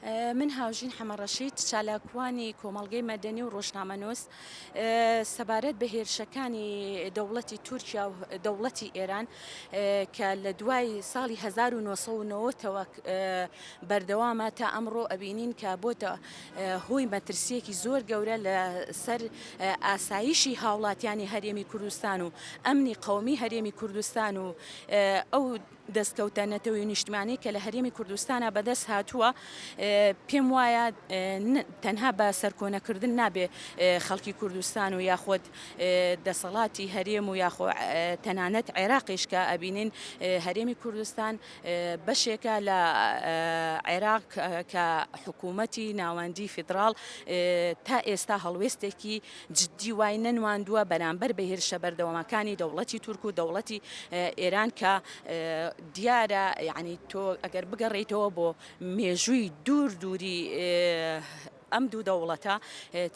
من هاوژین حەمە ڕەشید چالاکوانی کۆمەڵگەی مەدەنی و ڕۆژنامەنووس سەبارەت بە هێرشەکانی دەوڵەتی تورکیا و دەوڵەتی ئێران کە لە دوای ساڵی 1990ەوە بەردەوامە تا ئەمڕۆ ئەبینین کە بۆتە هۆی مەترسیەکی زۆر گەورە لە سەر ئاسایشی هاوڵاتیانی هەرێمی کوردستان و ئەمنی قومی هەرێمی کوردستان و ئەو دەستکەوتە نەتەوەی و نیشتمانی کە لە هەرێمی کوردستانە بەدەست هاتووە پێم وایە تەنها بە سەرکۆنەکردن نابێ خەڵکی کوردستان و یاخود دەسەڵاتی هەرێم و یاخۆ تەنانەت عێراقیش کە ئەبینین هەرێمی کوردستان بەشێکە لە عێراق کە حکوومەتی ناوەندی فیدراڵ تا ئێستا هەڵوێستێکی جدی وای نەنواندووە بەرامبەر بە هێرشە بەردەوامەکانی دەوڵەتی تورک و دەوڵەتی ئێران کە دیارە یعنی تۆ ئەگەر بگەڕێیتەوە بۆ مێژووی دوور دووری ئەم دوو دەوڵەتە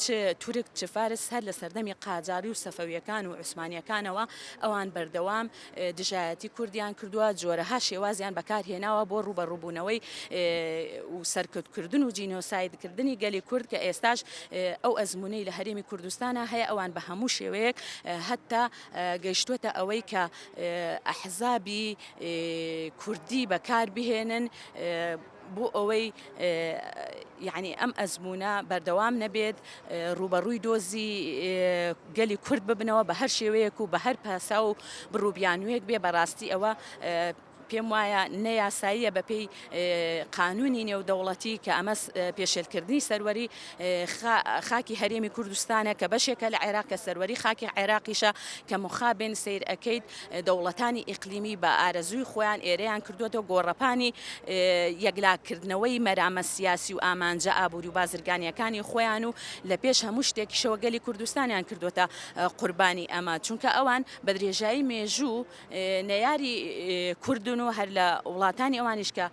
چ تورک چ فارس هەر لە سەردەمی قاجاری و سەفەویەکان و عوسمانیەکانەوە ئەوان بەردەوام دژایەتی کوردیان کردوە، جۆرەها شێوازیان بەکارهێناوە بۆ ڕووبەڕووبوونەوەی و سەرکوتکردن و جینۆسایدکردنی گەلی کورد کە ئێستاش ئەو ئەزموونەی لە هەرێمی کوردستانا هەیە ئەوان بە هەموو شێوەیەک هەتا گەیشتوەتە ئەوەی کە ئەحزابی کوردی بەکاربهێنن بۆ ئەوەی یەعنی ئەم ئەزموونە بەردەوام نەبێت، ڕووبەڕووی دۆزی گەلی کورد ببنەوە بە هەر شێوەیەک و بە هەر پاساو و بڕوبیانوویەک بێ، بەڕاستی ئەوە پێم وایە نە یاساییە بەپێی قانوونی نێودەوڵەتی کە ئەمە پێشێلکردنی سەروەری خاکی هەرێمی کوردستانە کە بەشێکە لە عێراق کە سەروەری خاکی عێراقیشە کە مخابن سیر ئەەکەیت دەوڵەتانی ئیقلیمی بە ئارەزووی خۆیان ئێرەیان کردوەوە گۆڕەپانی یەکلاکردنەوەی مەرامە سیاسی و ئامانجە ئابووری و بازرگانیەکانی خۆیان و لە پێش هەموو شتێکیشەوە گەلی کوردستانیان کردوەتە قوربانی ئەمە چونکە ئەوان بە درێژایی مێژوو نەیاری کوردن و هەر لە وڵاتانی ئەوانیش کە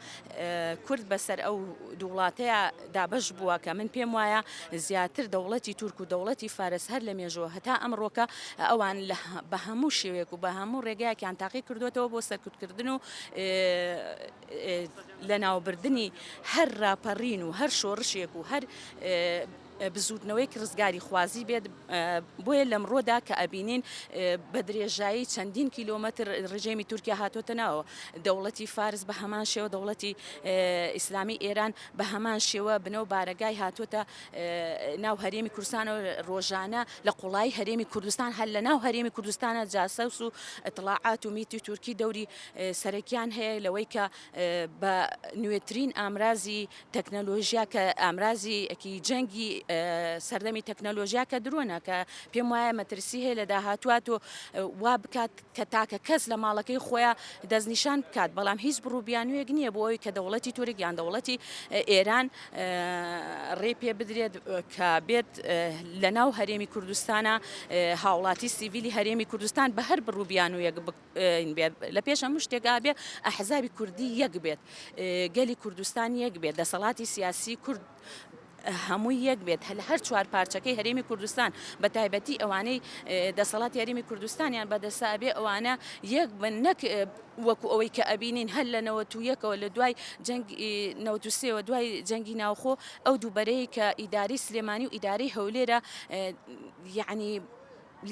کورد بەسەر ئەو دوو وڵاتەیە دابەش بووە کە من پێم وایە زیاتر دەوڵەتی تورک و دەوڵەتی فارس هەر لە مێژووە هەتا ئەمڕۆکە ئەوان بە هەموو شێوەیەک و بە هەموو ڕێگایەکیان تاقی کردوێتەوە بۆ سەرکوتکردن و لەناوبردنی هەر ڕاپەڕین و هەر شۆڕشێک و هەر بزووتنەوەیەکی ڕزگاریخوازی بێت، بۆیە لەمڕۆدا کە ئەبینین بە درێژایی چەندین کیلۆمەتر ڕژێمی تورکیا هاتۆتە ناوەوە، دەوڵەتی فارس بە هەمان شێوە، دەوڵەتی ئیسلامی ئێران بە هەمان شێوە بنە و بارەگای هاتۆتە ناو هەرێمی کوردستانەوە، ڕۆژانە لە قوڵایی هەرێمی کوردستان هەر لە ناو هەرێمی کوردستانا جاسوس و ئیتڵاعات و میتی تورکی دەوری سەرەکیان هەیە لەوەی کە بە نوێترین ئامرازی تەکنەلۆژیا کە ئامرازی ەکی جەنگی سەردەمی تەکنەلۆژیا کە درۆنە کە پێم وایە مەترسی هەیە لە داهاتوە تۆ وا بکات کە تاکە کەس لە ماڵەکەی خۆیان دەستنیشان بکات بەڵام هیچ بڕوبیانویەک نییە بۆ ئەوی کە دەوڵەتی تورک یان دەوڵەتی ئێران ڕێ پێ بدرێت کە بێت لە ناو هەرێمی کوردستانە هاوڵاتی سیڤیلی هەرێمی کوردستان بە هەر بڕوبیانویەک بکات بێت لە پێش هەموو شتێک ئابێ ئەحزابی کوردی یەک بێت گەلی کوردستان یەک بێت دەسەڵاتی سیاسی کورد هەمووی یەک بێت هەل هەر چوار پارچەکەی هەرێمی کوردستان بە تایبەتی ئەوانەی دەسەڵات یاریمی کوردستانیان بەدەسا بێ ئەوانە یەک بن نەک وەکو ئەوەی کە ئەبینین هەر لە نەوە تو یەکەوە لە دوای جەنگ نەوتوسێەوە دوای جەنگی ناوخۆ ئەو دووبەرەیە کە ئیداری سلێمانی و ئیداری هەولێرە یعنی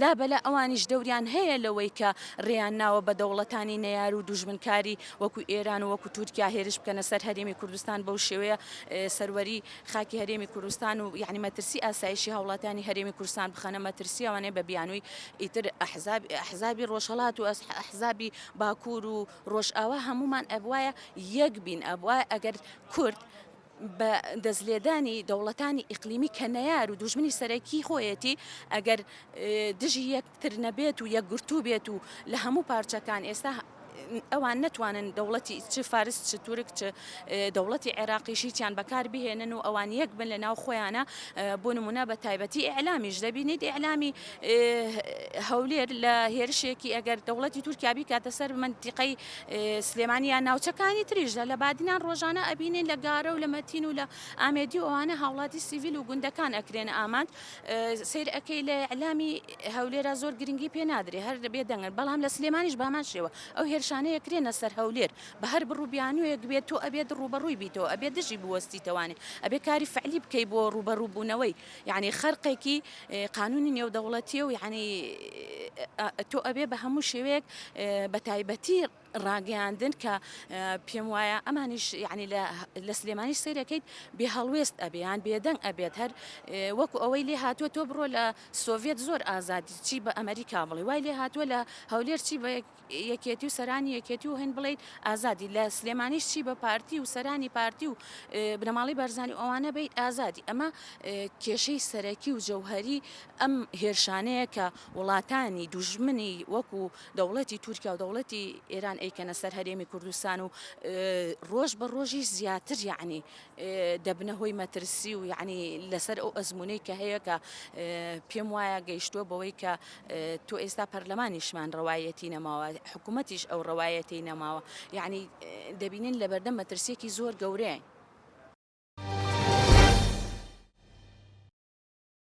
لابەلا ئەوانیش دەوریان هەیە لەوەی کە رێیان ناوە بە دەوڵەتانی نەیار و دوژمنکاری وەکو ئێران و وەکو تورکیا هێرش بکەنە سەر هەرێمی کوردستان بەو شێوەیە سەروەری خاکی هەرێمی کوردستان و یەعنی مەترسی ئاسایشی هاوڵاتیانی هەرێمی کوردستان بخەنە مەترسی ئەوانەیە بە بیانووی ئیتر ئەحزاب ئەحزابی رۆژهەڵات و ئەحزابی باکوور و رۆژئاوا هەموومان ئەبوایە یەک بین ئەبوایە ئەگەر کورد بە دەستلێدانی دەوڵەتانی ئیقلیمی کە نەیار و دوژمنی سەرەکی خۆیەتی ئەگەر دژی یەکتر نەبێت و یەکگرتوو بێت و لە هەموو پارچەکان ئێستا ئەوان نەتوانن دەوڵەتی چ فارس چ تورک چ دەوڵەتی عێراقیشییان بەکار بهێنن و ئەوان یەک بن لە ناو خۆیانە بۆ نمونە بە تایبەتی ئەعلامیش دەبینیت ئەعلامی هەولێر لە هێرشێکی ئەگەر دەوڵەتی تورکیا بیکاتە سەر منتیقەی سلێمانی یان ناوچەکانی تریش لە بادینان ڕۆژانە ئەبینین لە گارە و لە مەتین و لە ئامێدی و ئەوانە هاوڵاتی سیڤیل و گوندەکان ئەکرێنە ئامانج سیر ئەەکەی لە ئەلامی هەولێرا زۆر گرنگی پێ نادرێ هەر دەبێ دەنگن بەڵام لە سلێمانیش بامان شێوە ئەو هێرشانەیە کرێنە سەر هەولێر بە هەر بڕوبیانوێک بێت تۆ ئەبێت ڕوبەڕووی بیتەوە ئەبێ دژی بوەستیتەوانێ ئەبێ کاری فعلی بکەی بۆ ڕوبەڕووبوونەوەی یەعنی خەرقێکی قانونی نێودەوڵەتیە و یەعنی تۆ ئەبێ بە هەموو شێوەیەک بە تایبەتی ڕاگەیاندن کە پێم وایە ئەمانیش یعنی لە سلێمانی سیرەکەیت بێ هەڵوێست ئەبیان بێدەنگ ئەبێت هەر وەکو ئەوەی لێ هاتووە تۆ بڕۆ لە سۆڤێت زۆر ئازادی چی بە ئەمریکا بڵێ وای لێ هاتووە لە هەولێر چی بە یەکێتی و سەرانی یەکێتی و هەین بڵێیت ئازادی لە سلێمانیش چی بە پارتی و سەرانی پارتی و بنەماڵی بەرزانی ئەوانە بیت ئازادی ئەمە کێشەی سەرەکی و جەوهری ئەم هێرشانەیە کە وڵاتانی دوژمنی وەکو دەوڵەتی تورکیا و دەوڵەتی ئێران ئەیکەنە سەر هەرێمی کوردستان و ڕۆژ بە ڕۆژی زیاتر یعنی دەبنە هۆی مەترسی و یعنی لەسەر ئەو ئەزمونەی کە هەیە کە پێم وایە گەیشتووە بەوەی کە تۆ ئێستا پەرلەمانیشمان ڕەوایەتی نەماوە حکوومەتیش ئەو ڕەوایەتی نەماوە یعنی دەبینین لەبەردەم مەترسیەکی زۆر گەورەیە.